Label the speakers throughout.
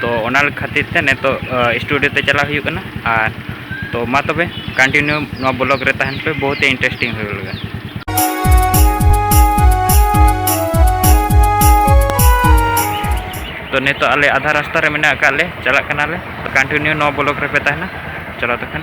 Speaker 1: ᱛᱚ ᱚᱱᱟ ᱠᱷᱟᱹᱛᱤᱨ ᱛᱮ ᱱᱤᱛᱚᱜ ᱥᱴᱩᱰᱤᱭᱳ ᱛᱮ ᱪᱟᱞᱟᱜ ᱦᱩᱭᱩᱜ ᱠᱟᱱᱟ ᱟᱨ ᱛᱚ ᱢᱟ ᱛᱚᱵᱮ ᱠᱚᱱᱴᱤᱱᱤᱭᱩ ᱱᱚᱣᱟ ᱵᱞᱚᱜ ᱨᱮ ᱛᱟᱦᱮᱱ ᱯᱮ ᱵᱚᱦᱩᱛ ᱤᱱᱴᱟᱨᱮᱥᱴᱤᱝ ᱦᱩᱭᱩᱜ ᱞᱟᱹᱜᱤᱫ ᱛᱚ ᱱᱤᱛᱚᱜ ᱟᱞᱮ ᱟᱫᱷᱟ ᱨᱟᱥᱛᱟ ᱨᱮ ᱢᱮᱱᱟᱜ ᱟᱠᱟᱫ ᱞᱮ ᱪᱟᱞᱟᱜ ᱠᱟᱱᱟᱞᱮ ᱠᱚᱱᱴᱤᱱᱤᱭᱩ ᱱᱚᱣᱟ ᱵᱞᱚᱜ ᱨᱮᱯᱮ ᱛᱟᱦᱮᱱᱟ ᱪᱚᱞᱚ ᱛᱚᱠᱷᱚᱱ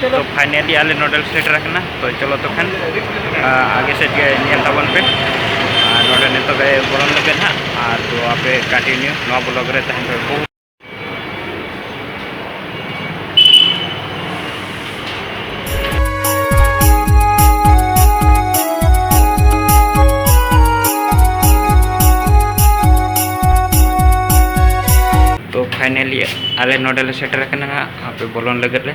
Speaker 1: ᱛᱚ ᱯᱷᱟᱭᱱᱟᱞᱤ ᱟᱞᱮ ᱱᱚᱰᱮᱞ ᱥᱮᱴᱮᱨ ᱟᱠᱟᱱᱟ ᱛᱚ ᱪᱚᱞᱚ ᱛᱚ ᱠᱷᱟᱱ ᱟᱜᱮ ᱥᱮᱫ ᱜᱮ ᱧᱮᱞ ᱛᱟᱵᱚᱱ ᱯᱮ ᱟᱨ ᱱᱚᱰᱮ ᱱᱤᱛᱚᱜ ᱜᱮ ᱵᱚᱞᱚᱱ ᱞᱟᱹᱜᱤᱫ ᱦᱟᱸᱜ ᱟᱨ ᱛᱚ ᱟᱯᱮ ᱠᱚᱱᱴᱤᱱᱤᱭᱩ ᱱᱚᱣᱟ ᱵᱞᱚᱜ ᱨᱮ ᱛᱟᱦᱮᱱ ᱯᱮ ᱯᱷᱟᱭᱱᱮᱞᱤ ᱟᱞᱮ ᱱᱚᱰᱮ ᱞᱮ ᱥᱮᱴᱮᱨ ᱟᱠᱟᱱᱟ ᱦᱟᱸᱜ ᱟᱯᱮ ᱵᱚᱞᱚᱱ ᱞᱟᱹᱜᱤᱫ ᱞᱮ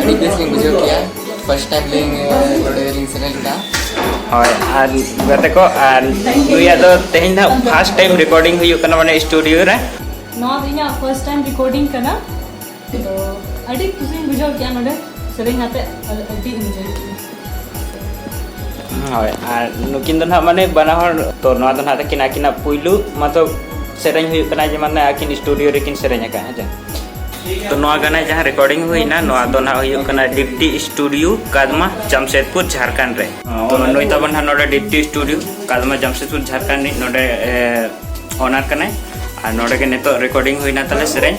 Speaker 1: ᱟᱹᱰᱤ ᱵᱮᱥ ᱞᱤᱧ ᱵᱩᱡᱷᱟᱹᱣ ᱠᱮᱜᱼᱟ ᱯᱷᱟᱥᱴ ᱴᱟᱭᱤᱢ ᱞᱤᱧ ᱱᱚᱰᱮ ᱞᱤᱧ ᱥᱮᱞᱮᱫ ᱞᱮᱱᱟ ᱦᱳᱭ ᱟᱨ ᱜᱟᱛᱮ ᱠᱚ ᱟᱨ ᱱᱩᱭᱟᱜ ᱫᱚ ᱛᱮᱦᱮᱧ ᱫᱚ ᱯᱷᱟᱥᱴ ᱴᱟᱭᱤᱢ ᱨᱮᱠᱚᱨᱰᱤᱝ ᱦᱩᱭᱩᱜ ᱠᱟᱱᱟ ᱢᱟᱱᱮ ᱥᱴᱩᱰᱤᱭᱳ ᱨᱮ ᱱᱚᱣᱟ ᱫᱚ ᱤᱧᱟᱹᱜ ᱯᱷᱟᱥᱴ ᱴᱟᱭᱤᱢ ᱨᱮᱠᱚᱨᱰᱤᱝ ᱠᱟᱱᱟ ᱛᱚ ᱟᱹᱰᱤ ᱠᱩᱥᱤᱧ ᱵᱩᱡᱷᱟᱹᱣ ᱠᱮᱜᱼᱟ ᱱᱚᱰᱮ ᱥᱮᱨᱮᱧ ᱟᱛᱮᱫ ᱟᱹᱰᱤ ᱤᱱᱡᱚᱭ ᱠᱮᱜᱼᱟ ᱦᱳᱭ ᱟᱨ ᱱᱩᱠᱤᱱ ᱫᱚ ᱱᱟᱦᱟᱜ ᱢᱟᱱᱮ ᱵᱟᱱᱟ ᱦᱚᱲ ᱛᱚ ᱱᱚᱣᱟ ᱫᱚ ᱱᱟᱦᱟᱜ ᱛᱟᱹᱠᱤᱱ ᱟᱹᱠᱤᱱᱟᱜ ᱯᱩᱭᱞᱩ ᱢᱚᱛᱞᱚᱵ ᱥᱮᱨᱮᱧ ᱦᱩᱭᱩᱜ ᱠᱟᱱᱟ ᱡᱮ ᱢᱟᱱᱮ ᱟᱹᱠᱤᱱ ᱥᱴᱩᱰᱤᱭᱳ ᱨᱮᱠᱤᱱ ᱥᱮᱨᱮᱧ ᱟᱠᱟᱫᱼᱟ ᱦᱮᱸ ᱪᱮ ᱛᱚ ᱱᱚᱣᱟ ᱜᱟᱱᱟ ᱡᱟᱦᱟᱸ ᱨᱮᱠᱚᱨᱰᱤᱝ ᱦᱩᱭᱱᱟ ᱱᱚᱣᱟ ᱫᱚ ᱱᱟᱦᱟᱜ ᱦᱩᱭᱩᱜ ᱠᱟᱱᱟ ᱰᱤᱯᱴᱤ ᱥᱴᱩᱰᱤᱭᱳ ᱠᱟᱫᱢᱟ ᱡᱟᱢᱥᱮᱫᱽᱯᱩᱨ ᱡᱷᱟᱲᱠᱷᱚᱸᱰ ᱨᱮ ᱛᱚ ᱱᱩᱭ ᱛᱟᱵᱚᱱ ᱱᱟᱦᱟᱜ ᱱᱚᱰᱮ ᱰᱤᱯᱴᱤ ᱥᱴᱩᱰᱤᱭᱳ ᱠᱟᱫᱢᱟ ᱡᱟᱢᱥᱮᱫᱽᱯᱩᱨ ᱡᱷᱟᱲᱠᱷᱚᱸᱰ ᱨᱤᱱᱤᱡ ᱱᱚᱰᱮ ᱚᱱᱟᱨ ᱠᱟᱱᱟᱭ ᱟᱨ ᱱᱚᱰᱮ ᱜᱮ ᱱᱤᱛᱚᱜ ᱨᱮᱠᱚᱨᱰᱤᱝ ᱦᱩᱭᱱᱟ ᱛᱟᱞᱮ ᱥᱮᱨᱮᱧ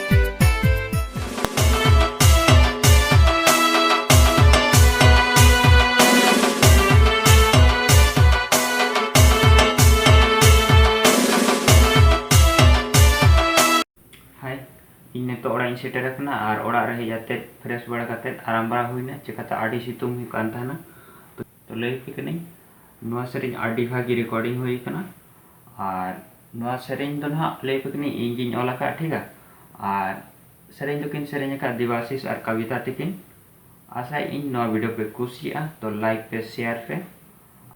Speaker 1: ᱤᱧ ᱱᱤᱛᱚᱜ ᱚᱲᱟᱜ ᱤᱧ ᱥᱮᱴᱮᱨ ᱟᱠᱟᱱᱟ ᱟᱨ ᱚᱲᱟᱜ ᱨᱮ ᱦᱮᱡ ᱠᱟᱛᱮ ᱯᱷᱨᱮᱥ ᱵᱟᱲᱟ ᱠᱟᱛᱮ ᱟᱨᱟᱢ ᱵᱟᱲᱟ ᱦᱩᱭᱱᱟ ᱪᱮᱠᱟᱛᱮ ᱟᱹᱰᱤ ᱥᱤᱛᱩᱝ ᱦᱩᱭᱩᱜ ᱠᱟᱱ ᱛᱟᱦᱮᱱᱟ ᱛᱚ ᱞᱟᱹᱭ ᱟᱯᱮ ᱠᱟᱹᱱᱟᱹᱧ ᱱᱚᱣᱟ ᱥᱮᱨᱮᱧ ᱟᱹᱰᱤ ᱵᱷᱟᱜᱮ ᱨᱮᱠᱚᱨᱰᱤᱝ ᱦᱩᱭ ᱟᱠᱟᱱᱟ ᱟᱨ ᱱᱚᱣᱟ ᱥᱮᱨᱮᱧ ᱫᱚ ᱱᱟᱦᱟᱜ ᱞᱟᱹᱭ ᱟᱯᱮ ᱠᱟᱹᱱᱟᱹᱧ ᱤᱧ ᱜᱤᱧ ᱚᱞ ᱟᱠᱟᱫ ᱴᱷᱤᱠᱟ ᱟᱨ ᱥᱮᱨᱮᱧ ᱫᱚᱠᱤᱱ ᱥᱮᱨᱮᱧ ᱟᱠᱟᱫ ᱫᱮᱵᱟᱥᱤᱥ ᱟᱨ ᱠᱟᱵᱤᱛᱟ ᱛᱤᱠᱤᱱ ᱟᱥᱟᱭ ᱤᱧ ᱱᱚᱣᱟ ᱵᱷᱤᱰᱤᱭᱳ ᱯᱮ ᱠᱩᱥᱤᱭᱟᱜᱼᱟ ᱛᱚ ᱞᱟᱭᱤᱠ ᱯᱮ ᱥᱮᱭᱟᱨ ᱯᱮ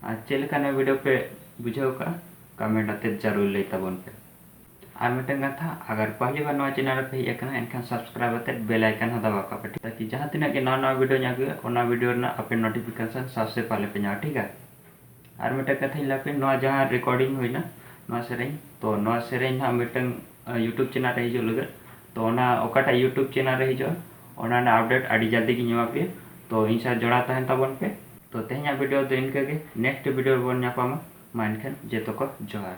Speaker 1: ᱟᱨ ᱪᱮᱫ ᱞᱮᱠᱟ ᱱᱚᱣᱟ ᱵᱷᱤᱰᱤᱭᱳ ᱯᱮ ᱵᱩᱡᱷᱟᱹᱣ ᱠᱟᱜᱼᱟ ᱠᱟᱢᱮᱱᱴ ᱟᱛᱮ ᱡᱟᱹᱨᱩᱲ ᱞᱟᱹᱭ ᱛᱟᱵᱚᱱ ᱯᱮ ᱟᱨ ᱢᱤᱫᱴᱟᱝ ᱠᱟᱛᱷᱟ ᱟᱜᱟᱨ ᱯᱟᱦᱞᱤ ᱵᱟᱨ ᱱᱚᱣᱟ ᱪᱮᱱᱮᱞ ᱨᱮᱯᱮ ᱦᱮᱡ ᱟᱠᱟᱱᱟ ᱮᱱᱠᱷᱟᱱ ᱥᱟᱵᱥᱠᱨᱟᱭᱤᱵ ᱟᱛᱮ ᱵᱮᱞ ᱟᱭᱠᱟᱱ ᱦᱚᱸ ᱫᱟᱵᱟᱣ ᱠᱟᱜ ᱯᱮ ᱴᱷᱤᱠ ᱛᱟᱠᱤ ᱡᱟᱦᱟᱸ ᱛᱤᱱᱟᱹᱜ ᱜᱮ ᱱᱟᱣᱟ ᱱᱟᱣᱟ ᱵᱷᱤᱰᱤᱭᱳᱧ ᱟᱹᱜᱩᱭᱟ ᱚᱱᱟ ᱵᱷᱤᱰᱤᱭᱳ ᱨᱮᱱᱟᱜ ᱟᱯᱮ ᱱᱳᱴᱤᱯᱷᱤᱠᱮᱥᱚᱱ ᱥᱟᱵᱥᱮ ᱯᱟᱦᱞᱮ ᱯᱮ ᱧᱟᱢᱟ ᱴᱷᱤᱠᱟ ᱟᱨ ᱢᱤᱫᱴᱟᱝ ᱠᱟᱛᱷᱟᱧ ᱞᱟᱹᱭ ᱟᱯᱮᱭᱟ ᱱᱚᱣᱟ ᱡᱟᱦᱟᱸ ᱨᱮᱠᱳᱰᱤᱝ ᱦᱩᱭᱱᱟ ᱱᱚᱣᱟ ᱥᱮᱨᱮᱧ ᱛᱚ ᱱᱚᱣᱟ ᱥᱮᱨᱮᱧ ᱦᱟᱸᱜ ᱢᱤᱫᱴᱟᱝ ᱤᱭᱩᱴᱩᱵᱽ ᱪᱮᱱᱮᱞ ᱨᱮ ᱦᱤᱡᱩᱜ ᱞᱟᱹᱜᱤᱫ ᱛᱚ ᱚᱱᱟ ᱚᱠᱟᱴᱟᱜ ᱤᱭᱩᱴᱩᱵᱽ ᱪᱮᱱᱮᱞ ᱨᱮ ᱦᱤᱡᱩᱜᱼᱟ ᱚᱱᱟ ᱨᱮᱱᱟᱜ ᱟᱯᱰᱮᱴ ᱟᱹᱰᱤ ᱡᱚᱞᱫᱤ ᱜᱤᱧ ᱮᱢᱟ ᱯᱮᱭᱟ ᱛᱚ ᱤᱧ ᱥᱟᱶ ᱡᱚᱲᱟᱣ ᱛᱟᱦᱮᱱ ᱛᱟᱵᱚᱱ ᱯᱮ ᱛᱚ ᱛᱮᱦᱮᱧᱟᱜ ᱵᱷᱤᱰᱤᱭᱳ ᱫᱚ ᱤᱱᱠᱟᱹ ᱜᱮ ᱱᱮᱠᱥᱴ ᱵᱷᱤᱰᱤᱭᱳ ᱨᱮᱵᱚᱱ ᱧᱟᱯᱟᱢᱟ ᱢᱟ ᱮᱱᱠᱷᱟᱱ ᱡᱚᱛᱚ ᱠᱚ ᱡᱚᱦᱟᱨ